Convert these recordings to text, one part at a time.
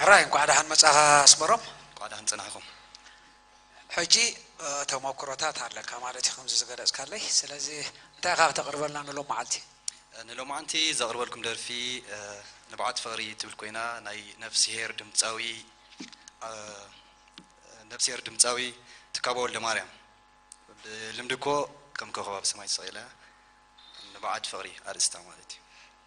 ሕራይ እንኳዕ ደሓን መፃኻ ኣስመሮም። እንኳዕ ደሓን ፀናሕኹም። ሕጂ ተሞክሮታት ኣለካ ማለት እዩ ከምዚ ዝገለፅካለይ ስለዚ እንታይ ኢኻ ክተቅርበልና ንሎማዓልቲ? ንሎማዓንቲ ዘቅርበልኩም ደርፊ ንብዓት ፍቅሪ ትብል ኮይና ናይ ነፍስሄር ድምፃዊ ነፍስሄር ድምፃዊ ትካቦ ወልደማርያም ብልምዲ እኮ ከም ኮኾብ ኣብ ሰማይ ተሰቂለ ንብዓት ፍቅሪ ኣርእስታ ማለት እዩ።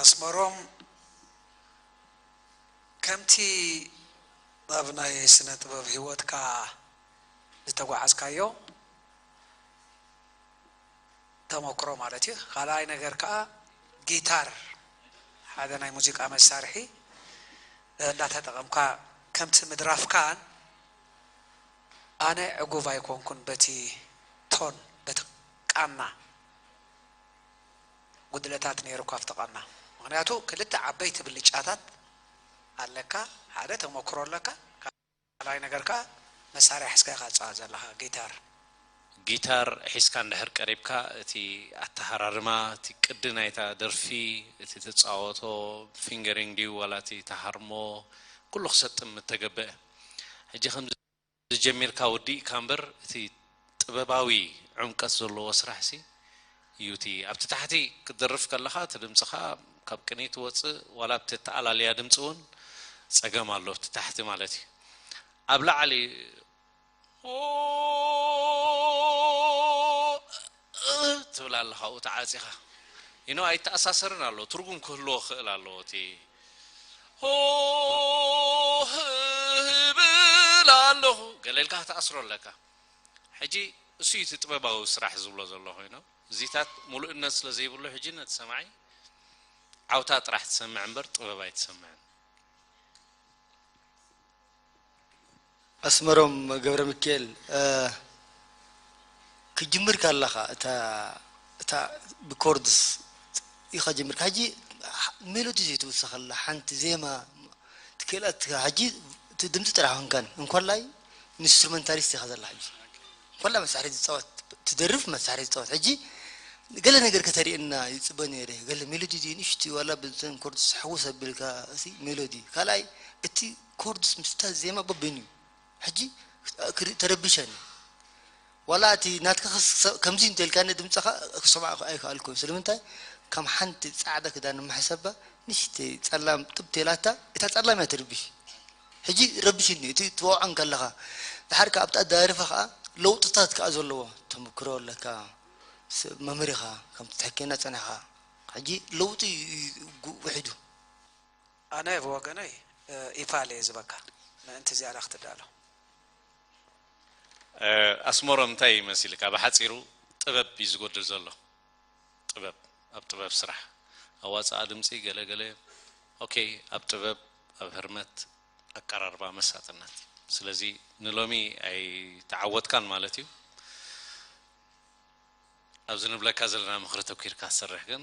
ኣስመሮም ከምቲ ኣብ ናይ ስነ ጥበብ ሂወትካ ዝተጓዓዝካዮ ተሞክሮ ማለት እዩ ካልኣይ ነገር ከኣ ጊታር ሓደ ናይ ሙዚቃ መሳርሒ እንዳተጠቐምካ ከምቲ ምድራፍካን ኣነ ዕጉብ ኣይኮንኩን በቲ ቶን በቲ ቃና ጉድለታት ነይሩካ ኣብቲ ቃና ምኽንያቱ ክልተ ዓበይቲ ብልጫታት ኣለካ ሓደ ተሞክሮ ኣለካ ካልኣይ ነገር ከኣ መሳርያ ሒዝካ ኢኻ ትጻወት ዘለኻ፣ ጊታር። ጊታር ሒዝካ እንድሕር ቀሪብካ እቲ ኣተሃራርማ፣ እቲ ቅዲ ናይታ ደርፊ፣ እቲ ትጻወቶ ፊንገሪንግ ድዩ ዋላ እቲ ትሃርሞ ኩሉ ክሰጥም እተገብእ። ሕጂ ከምዚ ጀሚርካ ወዲእካ እምበር እቲ። ጥበባዊ ዕምቀት ዘለዎ ስራሕ ሲ ዩ እቲ ኣብቲ ታሕቲ ክትደርፍ ከለኻ እቲ ድምጽኻ ካብ ቅንይ ትወጽእ ዋላ ኣብቲ ኣተኣላልያ ድምጺ ውን ጸገም ኣሎ ኣብቲ ታሕቲ ማለት ዩ ኣብ ላዕሊ ኦኦኦ እብል ኣለኹ ገለ ኢልካ ክትኣስሮ ኣለካ። ሕጂ እሱ እዩ እቲ ጥበባዊ ስራሕ ዝብሎ ዘሎ ኮይኑ እዚታት ሙሉእነት ስለ ዘይብሉ ሕጂ ነቲ ሰማዒ ዓውታ ጥራሕ ትሰምዕ እምበር ጥበብ ኣይትሰምዕን። ኣስመሮም ገብረሚኪኤል ክትጅምር ከለኻ እታ ብኮርድስ ኢኻ ጀሚርካ ሕጂ ሜሎዲ ዘይትውስኸላ ሓንቲ ዜማ ትክእላ ሕጂ እቲ ድምጺ ጥራሕ እንከን እንኮላይ ንስትሩመንታሊስት ኢኻ ዘላ ሕጂ ኮላ መሳርሒ ዝጻወት ትደርፍ መሳርሒ ዝጻወት ሕጂ ገለ ነገር ከተርእየና ይጽበ ነይረ ገለ ሜሎዲ ድዩ ንእሽቲ ዋላ ብዘን ኮርድስ ሕውስ ኣቢልካ እቲ ሜሎዲ ካልኣይ እቲ ኮርድስ ምስታ ዜማ በበይኑ እዩ ሕጂ ተረቢሸ እኔ ዋላ እቲ ናትካ ክሰ ከምዚ እንተ ኢልካኒ ድምጽኻ ክሰምዖ ኣይከኣልኩን ስለምንታይ ከም ሓንቲ ጻዕዳ ክዳን ምሓሰባ ንእሽተይ ጸላም ጥብ ተላታ እታ ጸላም እያ ትርብሽ ሕጂ ረብሽኒ እቲ ትወቕዖ እንከለኻ ድሓር ከኣ ኣብታ ኣደራሪፋ ከኣ ለውጥታት ከኣ ዘለዎ ተመክሮ ኣለካ ሰብ መምህር ኢኻ ከምቲ ትሕከየና ጸኒሕኻ ሕጂ ለውጢ እዩ ውሒዱ። ኣነ ብወገነይ ኢፓል እየ ዝበካ ምእንቲ ዝያዳ ክትዳሎ። ኣስመሮም እንታይ እዩ መሲልካ ብሓጺሩ ጥበብ እዩ ዝጎድል ዘሎ ጥበብ ኣብ ጥበብ ስራሕ ኣዋጽኣ ድምጺ ገለ ገለ ኦኬ ኣብ ጥበብ ኣብ ህርመት ኣቀራርባ መሳጥነት ስለዚ ንሎሚ ኣይተዓወትካን ማለት እዩ ኣብዚ ንብለካ ዘለና ምኽሪ ተኪርካ ትሰርሕ ግን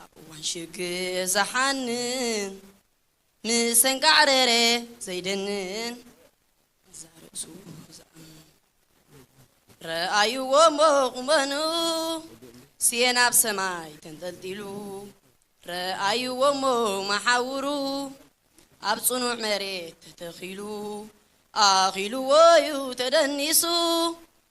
ኣብ እዋን ሽግር ዝሓንን ምሰንጋዕ ረሬ ዘይደንን እዛ ርእሱ ዝኣምን ረኣይዎ እሞ ቁመንኡ ስየን ኣብ ሰማይ ተንጠልጢሉ ረኣይዎ እሞ መሓውሩ ኣብ ጽኑዕ መሬት ተተኺሉ ኣኺልዎ እዩ ተደኒሱ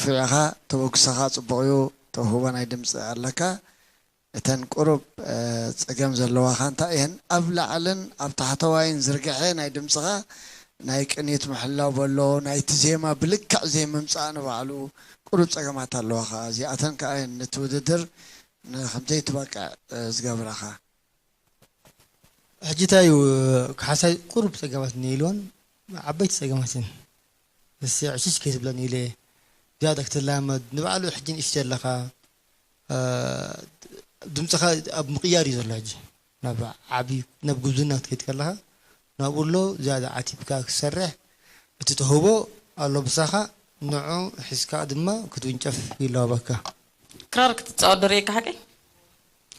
ፍሪዕኻ ተበግሶኻ ጽቡቕ እዩ ተውህቦ ናይ ድምጺ ኣለካ እተን ቁሩብ ጸገም ዘለዋኻ እንታይ እየን ኣብ ላዕልን ኣብ ታሕተዋይን ዝርግሐ ናይ ድምጽኻ ናይ ቅኒት ምሕላው በሎ ናይቲ ዜማ ብልክዕ ዘይምምጻእ ንባዕሉ ቁሩብ ጸገማት ኣለዋኻ እዚኣተን ከኣ እየን ነቲ ውድድር ንከምዘይትበቅዕ ዝገብራኻ። ሕጂ ታይ እዩ ካሓሳይ ቁሩብ ጸገማት ነይልዎን ዓበይቲ ጸገማት እየን ንሴ ዕሽሽ ከይትብለኒ ኢለ ዝያዳ ክትላመድ ንባዕሉ ሕጂ ንእሽተይ ኣለኻ ድምጽኻ ኣብ ምቕያር እዩ ዘሎ ሕጂ ናብ ዓቢ ናብ ጉብዝና ክትከይድ ከለኻ ናብኡ ኣሎ ዝያዳ ዓቲብካ ክትሰርሕ እቲ ተውህቦ ኣሎ ምሳኻ ንዑ ሒዝካ ድማ ክትውንጨፍ ይላበወካ። ክራር ክትጻወት ዶ ርእየካ ሓቀይ?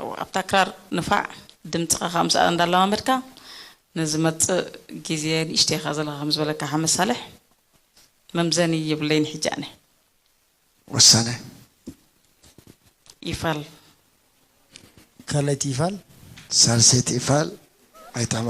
እወ ኣብታ ክራር ንፋዕ ድምጽኻ ከኣ ምስኣ እንዳለማመድካ ንዝመጽእ ግዜ ንእሽተይ ኢኻ ዘለኻ ከም ዝበለካ ሓመድ ሳልሕ መምዘኒ የብለይን ሕጂ ኣነ። ወሰነ ይፋል። ካልኣይቲ ይፋል። ሳልሰይቲ ይፋል። ኣይታማ።